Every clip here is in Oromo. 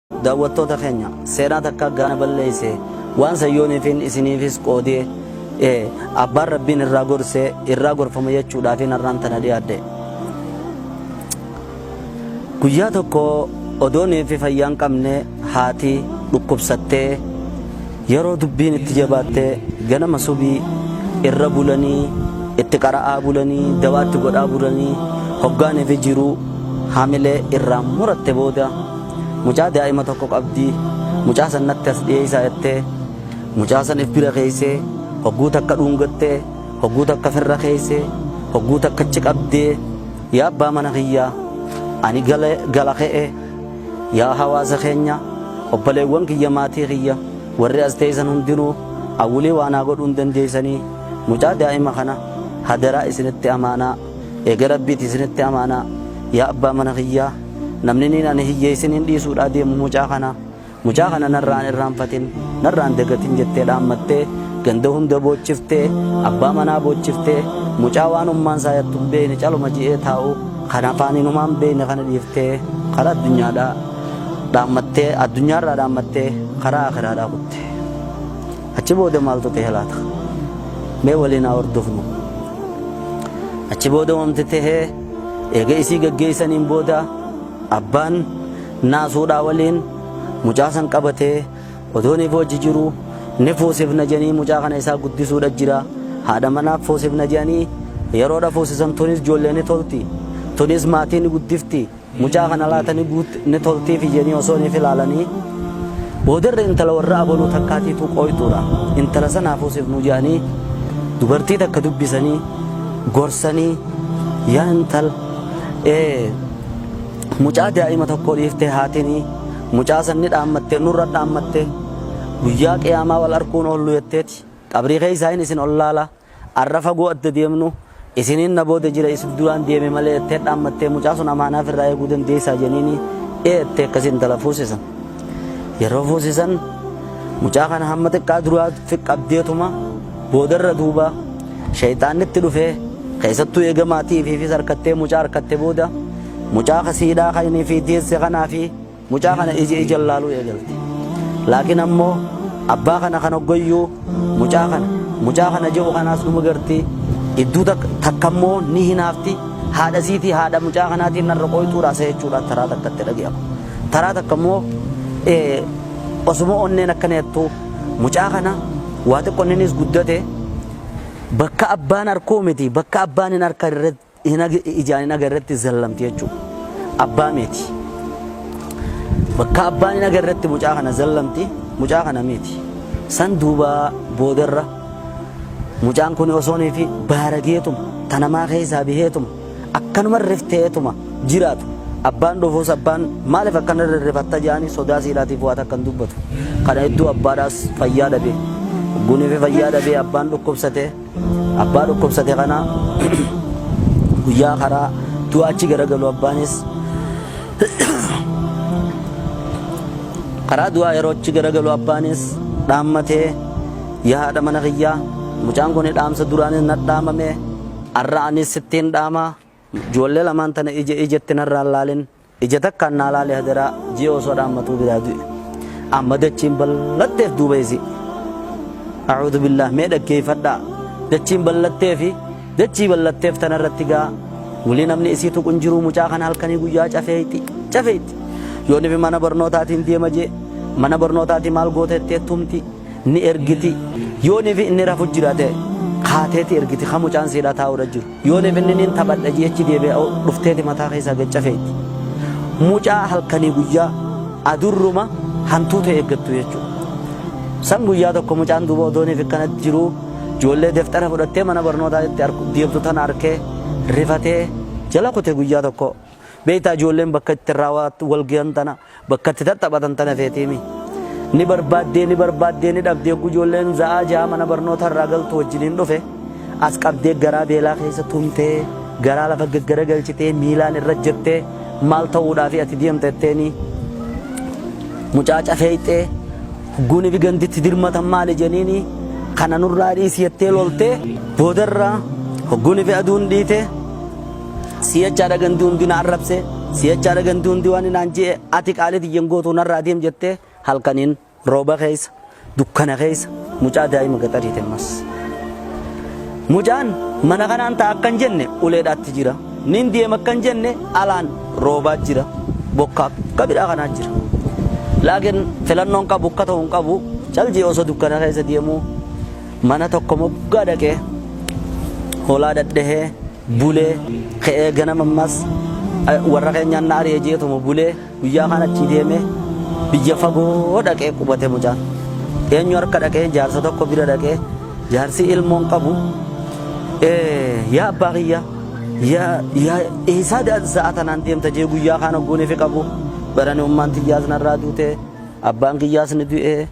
Daawwattoota keenya seenaa takka gaana balleeyse waan san yooniifin isiniifis qoodee e abbaan rabbiin irraa gorse irraa gorfama jechuudhaafin har'aan tana dhiyaadhe. Guyyaa tokko odoo neefi fayyaan qabne haati dhukkubsattee yeroo dubbiin itti jabaatte ganama subii irra bulanii itti qara'aa bulanii dawaatti godhaa bulanii hoggaa neefi jiruu hamilee irraa muratte booda Mucaa daa'ima tokko qabdi. Mucaa san natti as dhiyeessaa jettee mucaa san if bira keessee hogguu takka dhuungattee hogguu takka firra keessee hogguu takka achi qabdee yaa abbaa mana kiyyaa ani gala gala ka'e yaa hawaasa keenya obboleewwan kiyya maatii kiyya warri as teessan hundinuu awwilii waan haa godhuu hin dandeessanii mucaa daa'ima kana hadaraa isinitti amaanaa eega rabbiiti isinitti amaanaa yaa abbaa mana kiyyaa Namniniin ani hiyyeessin hin dhiisuudhaa deemu mucaa kana. Mucaa kana narraan irraanfatin, narraan dagatin jettee dhaammattee ganda hunda boochiftee, abbaa manaa boochiftee, mucaa waan ummaan isaa yattu hin beekne caluma ji'ee taa'u kan afaaniin humaa hin beekne kana dhiiftee karaa addunyaadhaa dhaammattee addunyaarraa dhaammattee karaa akiraadhaa kutte. Achi booda maaltu ta'e laata? Mee waliin haa hordofnu. Achi booda wanti ta'e Eega isii gaggeessaniin booda abbaan naasuudhaa waliin mucaa san qabatee odoo ni foochi jiru ni fuusifna jedhanii mucaa kana isaa guddisuudha jira haadha manaaf fuusifna jedhanii yeroodha fuusisan tunis ijoollee ni tolti tunis maatii ni guddifti mucaa kana laata ni guut ni toltiifi jedhanii osoo ni filaalanii boodarra intala warra abaluu takkaatiitu qooytuudha intala san haa fuusifnu jedhanii dubartii takka dubbisanii gorsanii yaa intal ee mucaa daa'ima tokko dhiiftee haatinii mucaa sanni dhaammattee nurra dhaammattee guyyaa qiyaamaa wal arkuun oollu jetteeti qabrii keessaa hin isin ollaala arra fagoo adda deemnu isiniin na booda jira isif duraan deeme malee jettee dhaammattee mucaa sun amaanaaf irraa eeguu dandeessaa jeniini ee jettee akkasii intala fuusisan yeroo fuusisan mucaa kana hamma xiqqaa duraa qabdeetuma Boodarra duuba sheyxaanni itti dhufee keessattuu eega maatii ifiifis harkattee mucaa harkatte booda mucaa kasiidhaa kan inni fi deesse kanaa fi mucaa kana ija ijan laaluu eegalte. Laakiin ammoo abbaa kana kan hoggoyyuu mucaa kana mucaa kana je'u kanaas numa garti idduu takka takka ammoo ni hinaafti haadha siitii haadha mucaa kanaatiin narra qoyxuudhaa isa jechuudhaan taraa takka itti dhaga'ama. Taraa takka ammoo osuma onneen akkana jettuu Mucaa kana waa xiqqo inninis guddate bakka abbaan arkuu miti bakka abbaan hin arka ijaan hin agarretti zallamti jechuudha. Abbaa miti. Bakka abbaan hin agarretti mucaa kana zallamti mucaa kana miti. San duuba boodarra mucaan kun osoonii fi baarageetuma tanamaa keessaa biheetuma akkanuma rifteetuma jiraatu. Abbaan dhofoos abbaan maaliif akkana rifata jedhanii sodaa siidhaatiif waa takka hin dubbatu. Kana hedduu abbaadhaas fayyaa dhabe. Guuniifi fayyaa dhabee abbaan dhukkubsate. Abbaa dhukkubsate kana guyyaa karaa du'aa achi garagalu abbaanis karaa du'aa yeroo achi garagalu abbaanis dhaammatee yaa haadha mana kiyyaa mucaan kun dhaamsa duraanis na dhaamamee Arra anis sittiin dhaama, joollee lamaan tana ija ijatti narraa hin laalin, ija takkaan naa laali hadaraa, ji'a osoo dhaammatuu biraa du'e. Amma dachiin bal'atteef duuba isii. A'uudhu billaah mee dhaggeeffadhaa. Dachiin bal'attee fi dachii bal'atteef tanarratti gaa wulii namni isii tuqu hin jiru mucaa kana halkanii guyyaa cafeeyti cafeeyti. Yoonifi mana barnootaatiin deema jee mana barnootaatii maal goota itti ettumti. ni ergiti. Yoo nifi inni rafu jirate kaateeti ergiti ka mucaan siidhaa taa'uudha jiru. Yoo nifi inni niin taphadha jeechi deebi'a dhufteeti mataa keessaa gachafeeti. Mucaa halkanii guyyaa adurruma hantuuta eeggattu jechuudha. San guyyaa tokko mucaan duuba odoo nifi akkanatti jiruu ijoollee deftara fudhattee mana barnootaa itti deemtu tana arkee rifatee jala kute guyyaa tokko. Beektaa ijoolleen bakka itti irraa wal gahan tana Bakka itti tattaphatan tana feetiimi. Ni barbaaddee ni barbaaddee ni dhabde yogguu ijoolleen za'aa ja'a mana barnootaa irraa galtu wajjiniin dhufe as qabdee garaa beelaa keessa tumtee garaa lafa gaggaragalchitee miilaan irra jettee maal ta'uudhaafi ati deemta jetteeni mucaa cafeeyxee hogguu nifi gandi itti dirmatan maali jeniini kana nurraa dhiisi jettee loltee boodarraa hogguu nifi aduun dhiite Si jechaadha gandi hundi na arrabse, si jechaadha gandi hundi waan naan je'e, ati qaalii tiyya hin gootu narraa deem jettee halkaniin rooba keessa, dukkana keessa mucaa daa'ima gaxarii ta'e mas. Mucaan mana kanaan ta'a akkan jenne uleedhaatti jira. Nin deema akkan jenne alaan roobaa jira. Bokkaa akka bidhaa kanaa jira. Laakiin filannoon qabu akka ta'u hin qabu cal je'e osoo dukkana keessa deemuu mana tokko moggaa dhaqee hoolaa dhadhahee bule, ka'ee ganama ammas warra keenyaan na ari'e jeetuma bule, guyyaa kaan achii deeme biyya fagoo dhaqee qubate mucaan. Eenyu harka dhaqee jaarsa tokko bira dhaqee jaarsi ilmoo hin qabu, yaa abbaa kiyya yaa eessaa sa'a tanaan deemta jee guyyaa kaan hogguuniifi qabu barani ummaan tiyyaas narraa duute abbaan kiyyaas ni du'e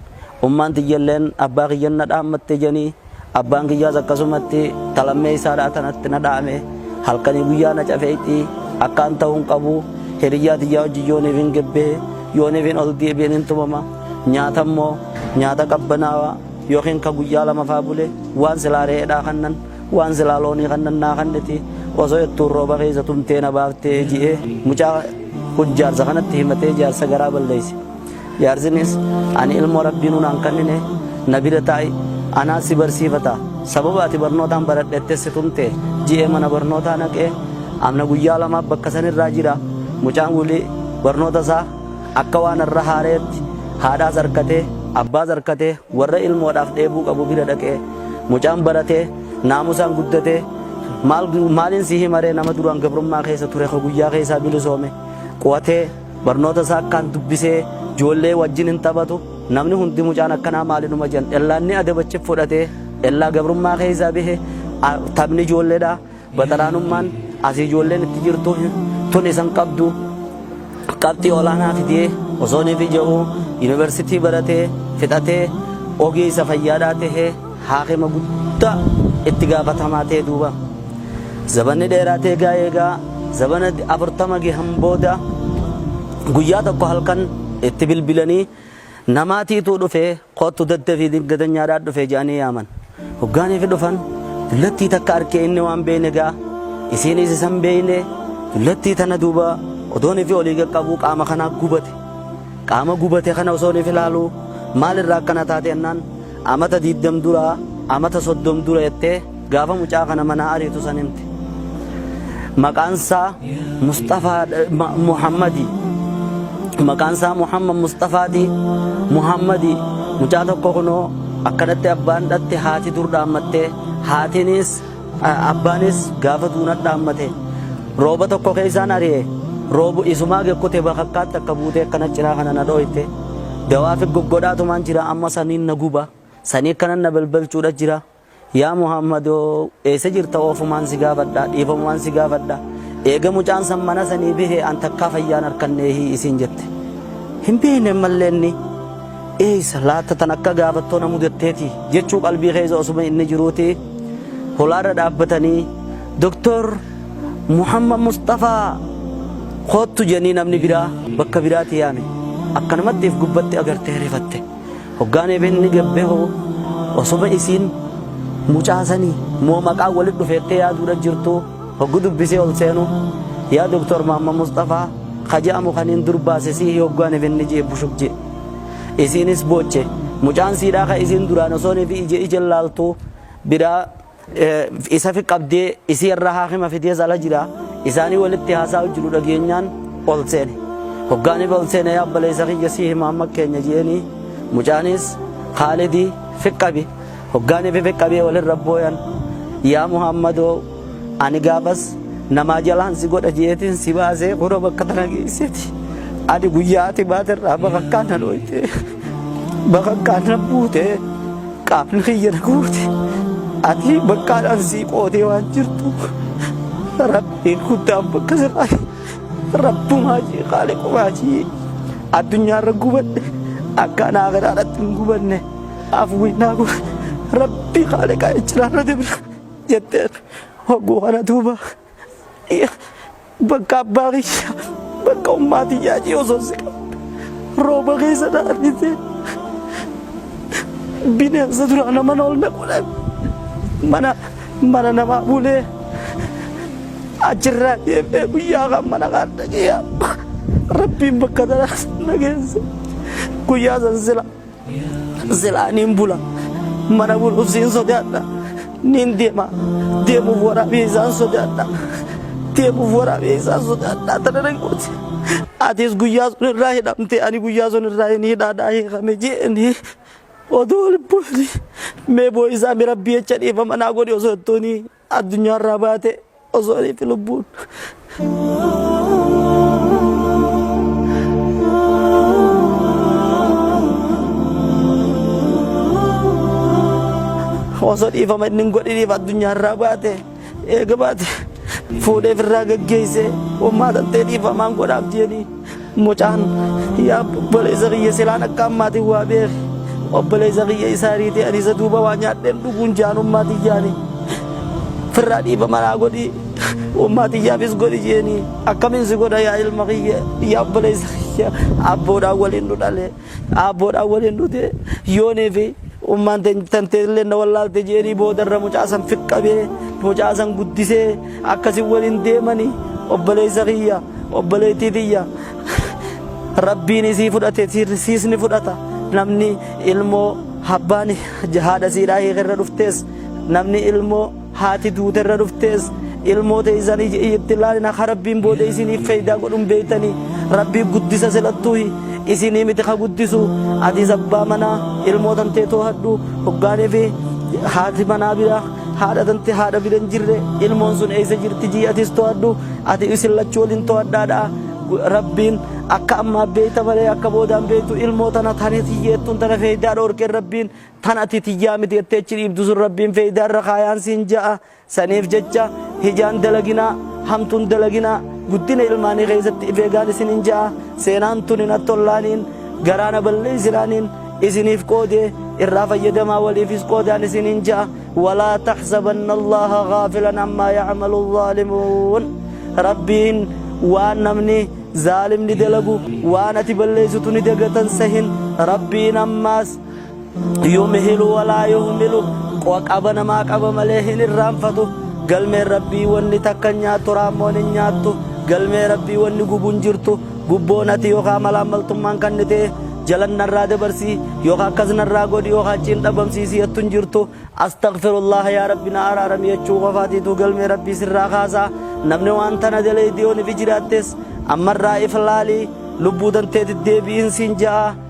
ummaan tiyyalleen abbaa kiyyan na dhaammatte janii Abbaan kiyyaas akkasumatti ta lammeessaadhaa tanatti na dhaame. Halkanii guyyaa na cafeeyti. Akkaan ta'uu hin qabu. Hiriyyaa tiyyaa wajjin yooniif hin gebbee. Yooniif hin ol deebi'een hin tumama. Nyaata immoo nyaata qabbanaawaa yookiin ka guyyaa lama faa bule waan silaa re'eedhaa kannan waan silaa loonii kannan naa kanniti osoo ittuun rooba keessa tumtee na baaftee ji'ee mucaa jaarsa kanatti himatee jaarsa garaa balleesse. Jaarsinis ani ilmoo Rabbiinuu naan kannine na bira taa'i anaa si barsiifata sababa ati barnootaan baradhette si tumte ji'ee mana barnootaa naqe amna guyyaa lamaaf bakka sanirraa jira mucaan wili barnoota isaa akka waan irra haareetti haadhaas harkatee abbaas harkatee warra ilmoodhaaf dheebuu qabu bira dhaqee mucaan baratee naamusaan guddatee maal maaliin si himaree nama duraan gabrummaa keessa ture ka guyyaa keessaa bilisoome quwatee Barnoota isaa akkaan dubbisee joollee wajjin hin taphatu namni hundi mucaan akkanaa maali numa jan ellaan ni adabachif fudhatee ellaa gabrummaa keessaa bihe taphni ijoolleedha baxaraanummaan asii ijoolleen itti jirtu tun isan qabdu qabxii olaanaa fidee osoo ni fija'u yuunivarsiitii baratee fixatee ogeessa fayyaadhaa tahee Haakima guddaa itti gaafatamaa ta'e duuba. Zabanni dheeraatee egaa eegaa zabana 40 gahan booda guyyaa tokko halkan itti bilbilanii namaatiituu dhufee koottu daddafii dingadanyaadhaa dhufee jedhanii yaaman. Hoggaaniif dhufan dullattii takka arkee inni waan beeyne egaa isiinis isan beeyne dullattii tana duuba odoon ifi olii qaqqabuu qaama kanaa gubate. Qaama gubate kana osoon ifi ilaaluu maalirraa akkana taate jennaan Amata diddam dura amata soddom dura jettee gaafa mucaa kana manaa ariitu san himte. Maqaan isaa Musxafaa Muhammadi. Maqaan isaa Muhammad Musxafaati. Muhammadi mucaa tokko kunoo akkanatti abbaan dhatte haati dur dhaammattee haatinis Abbaanis gaafa duunat dhaammate rooba tokko keessaan ari'e roobu isumaa gekkute bakakkaatti akka buutee akkana ciraa kana na dhooyte dawaa fi goggodhaatumaan jira amma saniin na guba sanii akkanan na belbelchuudha jira yaa Muhammadoo eessa jirta oofumaan si gaafadha dhiifamumaan si gaafadha eega mucaan san mana sanii bihe an takkaa fayyaan harkanneehii isiin jette hin beekne mallee inni Eeysa laatta tan akka gaafattoo na mudatteeti jechuu qalbii keessa osuma inni jiruuti holaarra dhaabbatanii Doktor Muhammad Musxafaa koottu jedhanii namni biraa bakka biraatii yaame. Akkanumatti if gubbatti agartee rifatte. Hoggaan ebenni gabbeho osuma isiin mucaa sanii moo maqaan walitti dhufeettee yaaduudha jirtuu. Hoggu dubbisee ol seenu yaa Doktar Maamma Musxafaa ka je'amu kaniin dur baase siihi hoggu ani finni je'e bushuk je'e. Isiinis booche. Mucaan siidhaa ka isiin duraan osoo nifi ije ijen laaltu biraa isafi qabdee isii irra haakima fidees ala jira. Isaanii walitti haasaa'u jiru dhageenyaan ol seene. Hoggaa nifi ol seene yaa obboleessa kiyya siihi Maamma keenya je'eenii. Mucaanis Kaalidi fi qabi. Hoggaa ni fifiqqabee walirra booyan. Yaa Muhammadoo! Ani gaafas namaa jalaan si godha je'eetiin si baasee kunoo bakka tana geesseeti. Ani guyyaa ati baate irraa bakakkaan na dhooyte. Bakakkaan na buute. Qaamni kiyya na guute. Ati bakkaadhaan sii qootee waan jirtu. Rabbiin guddaan bakka sirraa Rabbumaa jee qaaliqumaa jee addunyaarra gubadhe akkaan aakiraadhaatti hin gubanne. Afwinnaa kun rabbi haaliqaa ijjiraarra dibra jetteen hogguu kana duuba bakka abbaa kiyya bakka ummaa tiyyaa jee osoo si qabde rooba keessa na argitee bineensa duraa nama na ol naquudhaan mana mana namaa bulee achirraa deemee guyyaa kan mana kan dhaqee rabbiin bakka tanaas na geesse guyyaa san sila Silaa niin bula. Mana buluuf siin sodaadha. Niin deema. Deemuuf waraabee isaan sodaadha. Deemuuf waraabee isaan sodaadha. Tana nan gooti. Atis guyyaa sun irraa hidhamte ani guyyaa sun irraa hin hidhaadhaa hiikame jeeni. Odoo lubbuuni mee boo'isaa mi rabbii jecha dhiifama naa godhi osoo ittoonii. addunyaarraa baate osoo aniitti lubbuun. osoo dhiifama inni hin godhiniif addunyaarraa baate eega baate fuudhee firraa gaggeessee ummaa tantee dhiifamaan godhaaf jeeni. Mucaan yaa obboleessa kiyya silaan akka ammaatiin waa beeki. Obboleessa kiyya isaa riitee ani isa duuba waa nyaadheen dhuguun jaanummaa tiyyaani. Firraa dhiiba manaa godhi. Ummaa tiyyaafis godhi jeeni. Akkamiin si godha yaa ilma kiyya yaa obboleessa kiyya abboodhaan waliin nu dhalee. Aabboodhaan waliin dhute yoonii fi ummaan tanteellee na wallaalte jeerii boodarra mucaa san fiqqabee mucaa san guddisee akkasiin waliin deemanii obboleessa kiyya obboleettii tiyya rabbiin isii fudhate siis ni fudhata namni ilmoo abbaan haadha siidhaa hiikerra dhuftees namni ilmoo Haati duute irra dhuftees ilmoo teeysanii itti laalina ka Rabbiin booda isiniif feeydaa godhun beeytanii Rabbii guddisa silattuuhi isinii miti ka guddisu atiis abbaa manaa ilmoo tantee toohadhu hoggaaniifi haati manaa bira haadha tante haadha bira hin jirre ilmoon sun eeysa jirti jii atiis toohadhu ati isin lachuu waliin toohadhaadha Rabbiin akka ammaa beeyta malee akka boodaan beeytu ilmoo tana tane tiyyeettuun tana feeydaa dhoorkeen Rabbiin tan ati tiyyaa miti jettee achi dhiibdu sun rabbiin feeydaa irra kaayaan siin ja'a saniif jecha hijaan dalaginaa hamtuun dalaginaa guddina ilmaanii keessatti if eegaan isin hin ja'a seenaan tun hin attollaaniin garaana balleessinaaniin isiniif qoodee irraa fayyadamaa waliifis qoodaan isin hin ja'a walaa taxsabanna allaha gaafilan ammaa yacmalu zaalimuun rabbiin waan namni zaalimni dalagu waan ati balleessitu ni dagatan sahin rabbiin ammaas yumihilu walaa yuhmilu qo'a qaba namaa qaba malee hin irraanfatu galmeen rabbii wanni takka hin nyaattu raammoon hin nyaattu galmee rabbii wanni gubu hin jirtu gubboon ati yookaan malaammaltummaan kan ta'e jalan narraa dabarsii yookaan akkas narraa godhi yookaan achiin dhabamsiisii jettu hin jirtu astaghfirullah yaa rabbi na araarami jechuu qofaatiitu galmee rabbii sirraa kaasaa namni waan tana dalee diyooniif jiraattes ammarraa iflaalii lubbuu danteetti deebi'iin siin ja'a.